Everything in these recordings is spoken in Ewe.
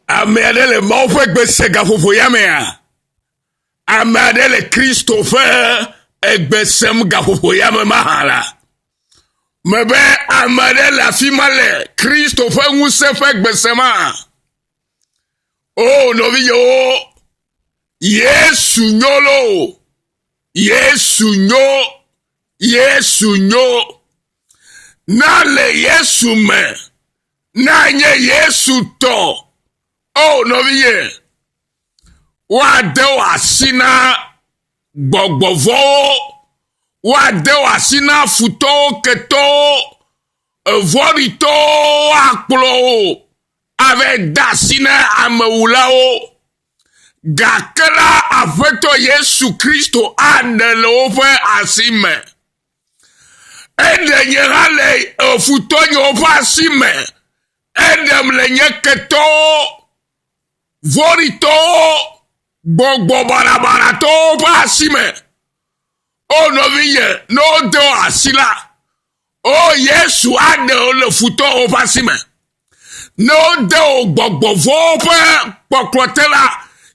Ame aɖe le Mawu ƒe gbe se gaƒoƒo ya mea? Ame aɖe le Kristo ƒe egbe sem gaƒoƒo ya me mahã la? Mebe ame aɖe le afi ma le Kristo ƒe ŋusẽ ƒe gbe sem hã? O oh, nɔviyewo, Yesu nyo lo, Yesu nyo, Yesu nyo. Na le Yesu me. Na nye Yesu tɔ. O nɔviye, woade wò asi na gbɔgbɔ vɔwo, woade wò asi na futɔwo, ketɔwo, evɔ̃ɖitɔwo, woakplɔ wò ave de asi na amewulawo. Gake la, Aƒetɔ Yesu Kristo aɖe le woƒe asi me. Eɖe nye hã le futɔnyewo ƒe asi me. Eɖem le nye ketɔwo, vɔ̃ɖitɔwo, gbɔgbɔ balabalatɔwo ƒe asi me. O nɔvinye, ne wode wò asi la, o Yesu aɖe wò le futɔwo ƒe asi me. Ne wode wò gbɔgbɔ vɔ̃wo ƒe kpɔkplɔ te la,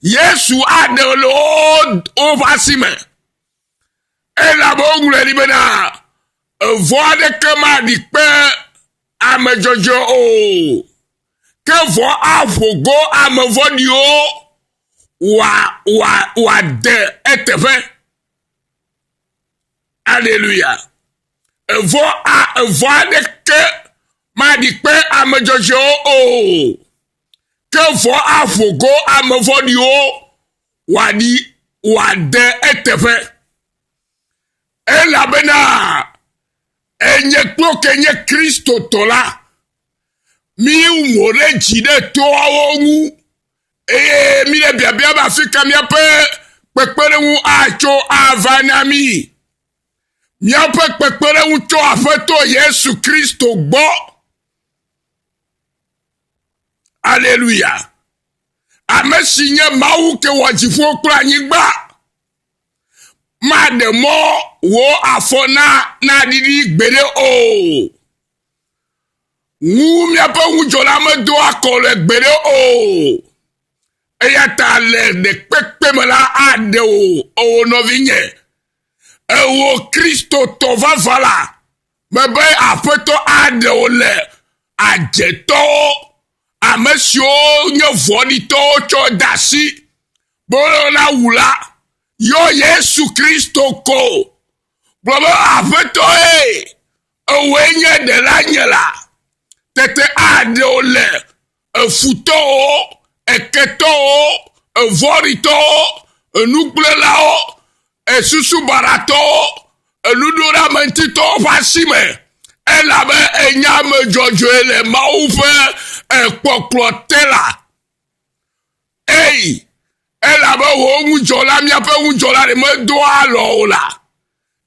Yesu aɖe wò le woƒe asi me. Elabe woŋlɔe ɖi bena, Evɔ̃ aɖeke maɖi kpe ame dzɔdzɔe o, ke vɔ̃ aƒo go ame vɔ̃ɖiwo wòade eteƒe. Aleluya! Evɔ̃ aɖeke maɖi kpe ame dzɔdzɔewo o, ke vɔ̃ aƒo go ame vɔ̃ɖiwo wòaɖi wòade eteƒe. Elabena enye kplo ke nye Kristotɔ la, míwu mo ɖe dzi ɖe toawo ŋu, eye míle biabia be afi ka míaƒe kpekpeɖeŋu atso ava na mí. Míaƒe kpekpeɖeŋu tso Aƒetɔ Yesu Kristo gbɔ. Aleluya. Ame si nye Mawu ke wɔ dziƒo kple anyigba. Maɖe mɔ wò afɔ na naɖiɖi gbeɖe o. Ŋu miaƒe ŋudzɔla medo akɔ le gbeɖe o. Eya ta le ɖekpekpe me la aɖe wò, ewò nɔvinye. Ewò Kristotɔ vavã la Mebe Aƒetɔ aɖe wo le adzetɔwo, ame siwo nye vɔ̃ɖitɔwo tsɔ de asi be woyɔna wu la, yɔ Yesu Kristo ko. Gblɔ be, Aƒetɔ ye, ewɔe nye ɖelanye la, tete aɖe wo le. efutɔwo, eketɔwo, evɔ̃ɖitɔwo, enukplɔlawo, esusubaɖatɔwo, enuɖoɖeameŋutitɔwo ƒe asi me, elabe enye ame dzɔdzɔe le Mawu ƒe kpɔkplɔ te la. Ei, elabe wò ŋudzɔla, míaƒe ŋudzɔla ɖe medoa alɔ o la,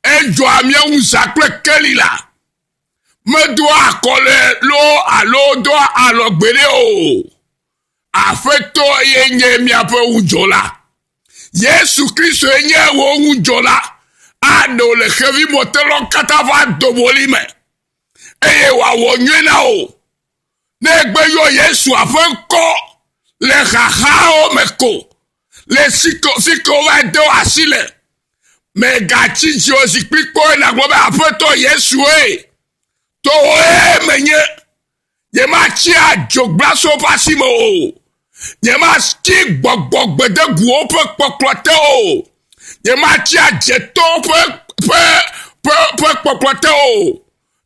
edzɔa mía ŋu zã kple keli la. medoa akɔle loo alo doa alɔ gbeɖe o. Aƒetɔ ye nye miaƒe ŋudzɔla. Yesu Kristo ye nye wò ŋudzɔla. Aɖe wò le xevimɔtelɔ katã ƒe adɔbɔli me eye wòawɔ nyuie na wò. Ne egbe yɔ Yesua ƒe ŋkɔ le xaxawo me ko Le fike wova do asi le, mègatsi dzi o zikpui kpɔe nàgblɔ be aƒetɔ Yesue, to wòe menye, nyematsi adzogblase woƒe asi me o, nyematsi gbɔgbɔ gbedeguwo ƒe kpɔkplɔ te o, nyematsi adzetɔ ƒe ƒe ƒe ƒe kpɔkplɔ te o.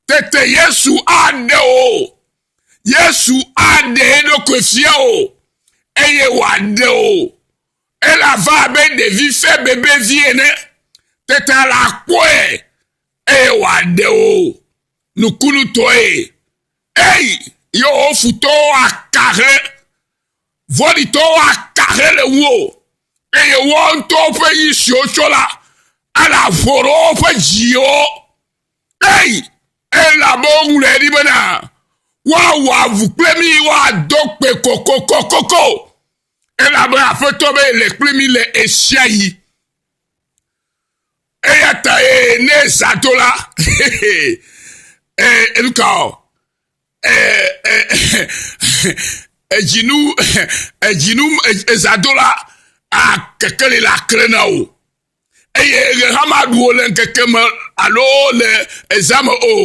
Tete Yesu aɖe o. Yesu aɖe eɖokui fia o eye wòaɖe o. Ele abe abe ɖevi fe bebevi ene. Tete la akpɔe eye wòaɖe o nukunutɔe. Eyi yewo futɔwo aka he vɔɖitɔwo aka he le wo eye woawo ŋutɔwo ƒe yi siwo tsɔ la ele aƒo ɖe woƒe dziwo. Ei, elabe woŋlɔe ɖi bena, woawɔ avu kple mí, woado kpe kokokokoko, elabe Aƒetɔ be le kple mí le esia yi. Eya ta ye ne zã do la, eh, enu ka o? Eh, eh, edzinu, edzinu, ezã do la, akekeli la kle na wò. eye ɣe hã maɖu wò le ŋkeke me alo le ezã me o.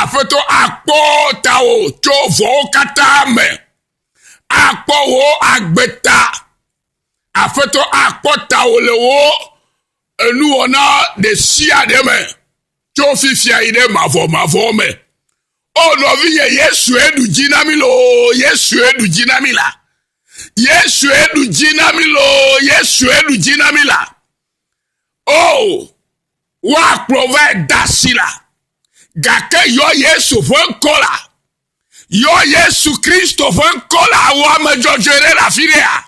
Aƒetɔ akpɔ tawò tso vɔwo katã me, akpɔ wò agbe ta. Aƒetɔ akpɔ tawò le wò enuwɔna ɖe sia ɖe me tso fifia yi ɖe mavɔmavɔ me. O nɔvinye, Yesue ɖu dzi na mi loo, Yesue ɖu dzi na mi la. Yesue ɖu dzi na mi loo, Yesue ɖu dzi na mi la. O, woakplɔ va da si la, gake yɔ Yesu ƒe ŋkɔ la, yɔ Yesu Kristo ƒe ŋkɔ la wɔ ame dzɔdzɔe ɖe le afi ɖea.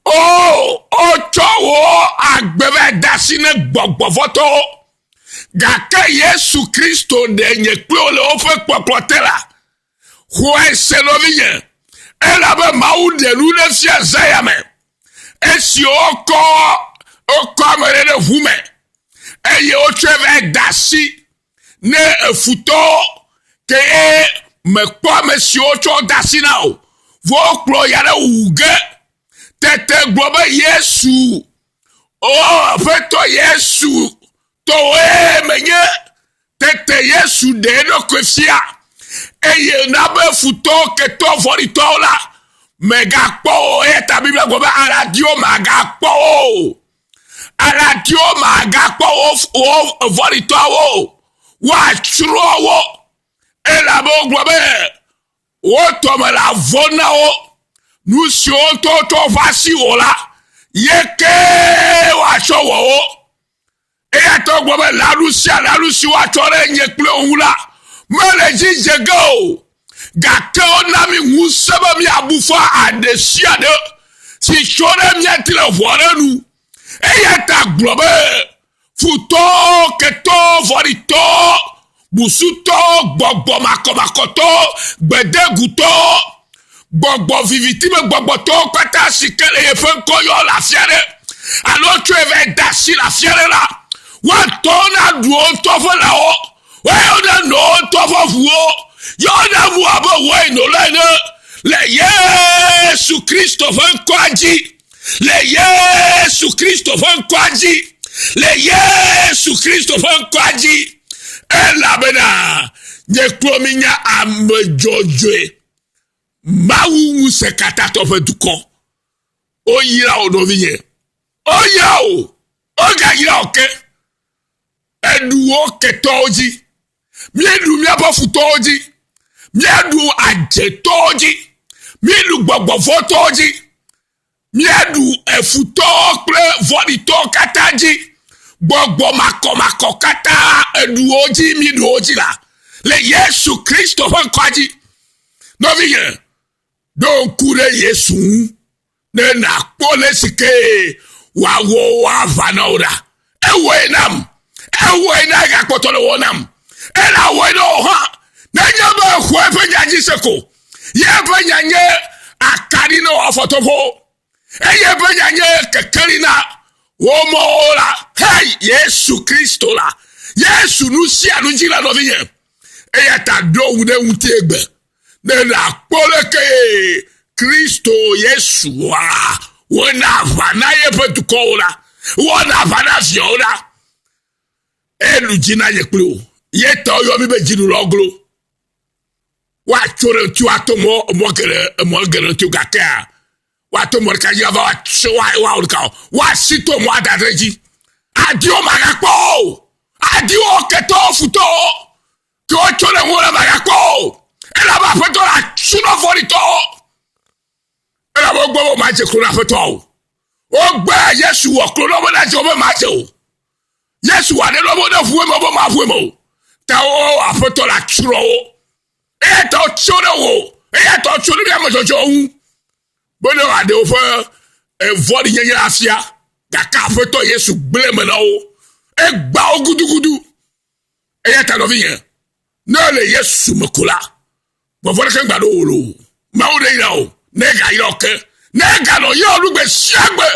O, o tsɔ wò agbe va da si ne gbɔgbɔvɔtɔwo. Gake Yesu Kristo ɖe nye kple le woƒe kpɔkplɔ te la, xɔe se nɔvinye, elabe Mawu ɖe nu ɖe fia Zaya me, esi wokɔ wokɔ ame ɖe ɖe ʋu me, eye wotsɔe va da asi ne efutɔwo, ke ye mekpɔ ame siwo tsɔ da asi na o, vɔ wokplɔ ya ɖe wuwu ge. Tete gblɔ be Yesu O Aƒetɔ Yesu, tɔwòe menye. Tete Yesu ɖe eɖokui fia, eye na be futɔwo, ketɔwo, vɔ̃ɖitɔwo la, megakpɔ wo. Eya ta Biblia gblɔ be aladiwo magakpɔ wo. Aladiwo magakpɔ wo, wo vɔ̃ɖitɔwo. Woatsrɔ̃ wo. Elabe wogblɔ be, Wo tɔme la vɔ na wo, nu siwo tɔtɔ va si wò la, ye ke woatsɔ wɔ wo. Eya ta wogblɔ be lãnu sia lãnu si woatsɔ ɖe nye kple wo ŋu la, mele dzi dze ge o, gake wona mi ŋusẽ be miabu fɔ aɖe sia aɖe si tso ɖe mía ti le ʋɔa ɖe nu. Eya ta gblɔ be, futɔ, ketɔ, vɔɖitɔ, busutɔ, gbɔgbɔ makɔmakɔtɔ, gbedegutɔ, gbɔgbɔ viviti me gbɔgbɔtɔ kpata si ke le yeƒe ŋkɔ yɔ le afi aɖe alo tsɔe va da asi le afi aɖe la, woatɔ na ɖuwo ŋutɔ ƒe lãwo, woayɔ na nɔwo ŋutɔ ƒe ʋuwo, yɔ na mu abe wɔe nɔla ene le Yesu Kristo ƒe ŋkɔa dzi. le yesu kristo ƒe ŋkɔa dzi le yesu kristo ƒe ŋkɔa dzi elabena nye klo mi nya ame dzɔdzɔe mawu ŋusẽ katãtɔ ƒe dukɔ oyra o nɔvinye oyra o ogayra o ke eɖuwo ketɔwo dzi míeɖu míaƒe futɔwo dzi míeɖu adzetɔwo dzi míeɖu gbɔgbɔvɔtɔwo dzi míeɖu efutɔwo kple vɔɖitɔwo katã dzi gbɔgbɔ makɔmakɔ katã eɖuwo dzi míeɖuwo dzi la le yesu kristo ƒe ŋkɔa dzi nɔvinye ɖo ŋku ɖe yesu ŋu ne nàkpɔ le si ke wòawɔ woava na wò ɖa. Ewɔe nam. Ewɔe na egakpɔtɔ le wɔ nam. Ela wɔe na wò hã. Nenye be èxɔ eƒe nya dzi se ko. Ye eƒe nya nye akaɖi na wò afɔtoƒo. Eye eƒe nya nye kekeli na wò mɔwo la. Hei, Yesu Kristo la. Yesu nu sia nu dzi la nɔvinye. Eya ta ɖo ŋu ɖe ŋuti egbe. be nàkpɔ leke Kristo Yesua wɔna aʋa na yeƒe dukɔwo la, wɔna aʋa na viawo la, enu dzi na nye kpli wò. Yetɔ yɔ mi be dzinulɔglo. Woatso ɖe ŋuti woato mɔ mɔ geɖe emɔ geɖe ŋuti gakea woato mɔ ɖeka dzi ava woatso woawɔ ɖeka o. Woasi to mɔ ada ɖe dzi. Adiwo magakpɔ o. Adiwo ketɔwo futɔwo. Ke wotsɔ ɖe ŋuwò la magakpɔ o, elabe Aƒetɔ la atsrɔ̃ vɔ̃ɖitɔwo, elabe wogbe be womadze klo na Aƒetɔa o. Wogbe Yesu wɔ klo na wo be nadze wo be madze o. Yesu wɔ aɖe na wo be neʋu eme wo be maʋu eme o. Ta wo Aƒetɔ la atsrɔ̃ wo. Eya ta wotso ɖe wò, eya ta wotso ɖe míame dzɔdzɔwo ŋu be ne wòaɖe woƒe vɔ̃ɖinyenye afia, gake Aƒetɔ Yesu gblẽ me na wo. Egba wo gudugudu. Eya ta nɔvinye, ne èle Yesu me ko la, gbɔgbɔ ɖeke mgba ɖo wò lo. Mawu ɖe yra wò, ne ega yra wò ke, ne eganɔ yɔ nu gbe sia gbe,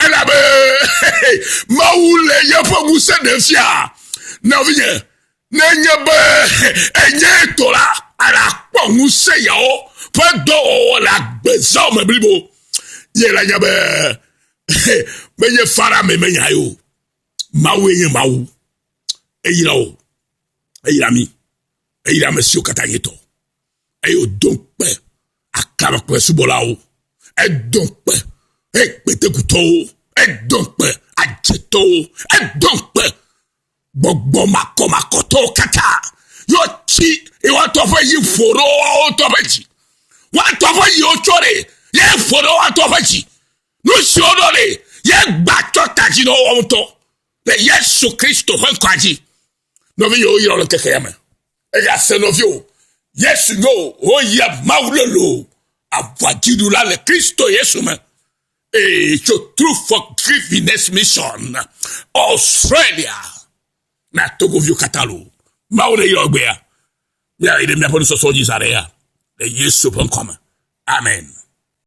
elabe Mawu le yeƒe ŋusẽ ɖe fia. Nɔvinye, ne nye be enye tɔ la, alakpɔ ŋusẽ yawo ƒe dɔwɔwɔ le agbezao me blibo. Ye la nya be menye fara me menya ye o. Mawue nye Mawu. Eyra wo. Eyra mi. Eyra ame siwo katã nye tɔ. Eye wòdo kpe aklama kple subɔlawo. Edo kpe ekpetekutɔwo. Edo kpe adzetɔwo. Edo kpe gbɔgbɔ makɔmakɔtɔwo katã. Yɔ tsi iwatɔ ƒe yi ƒo ɖo woawo tɔ ƒe dzi. Woatɔ ƒe yiwo tsɔ ɖe. Ye ƒo ɖo woatɔ ƒe dzi. Nu si woɖo nɛ, yegba tsɔ ta dzi na woawo ŋutɔ le Yesu Kristo ƒe ŋkɔa dzi. Nɔvi yewo yɔ le ŋkeke ya me. Eya se nɔvi o. Yesu nyo woyia Mawu lolo aʋadziɖula le Kristo Yesu me. Eye tso True Forgiveness Mission Australia na togoviwo katã lo. Mawu ne yɔ gbea. Míayi ɖe míaƒe nusɔsɔ dzi zã ɖe ya. Le Yesu ƒe ŋkɔ me. Amen.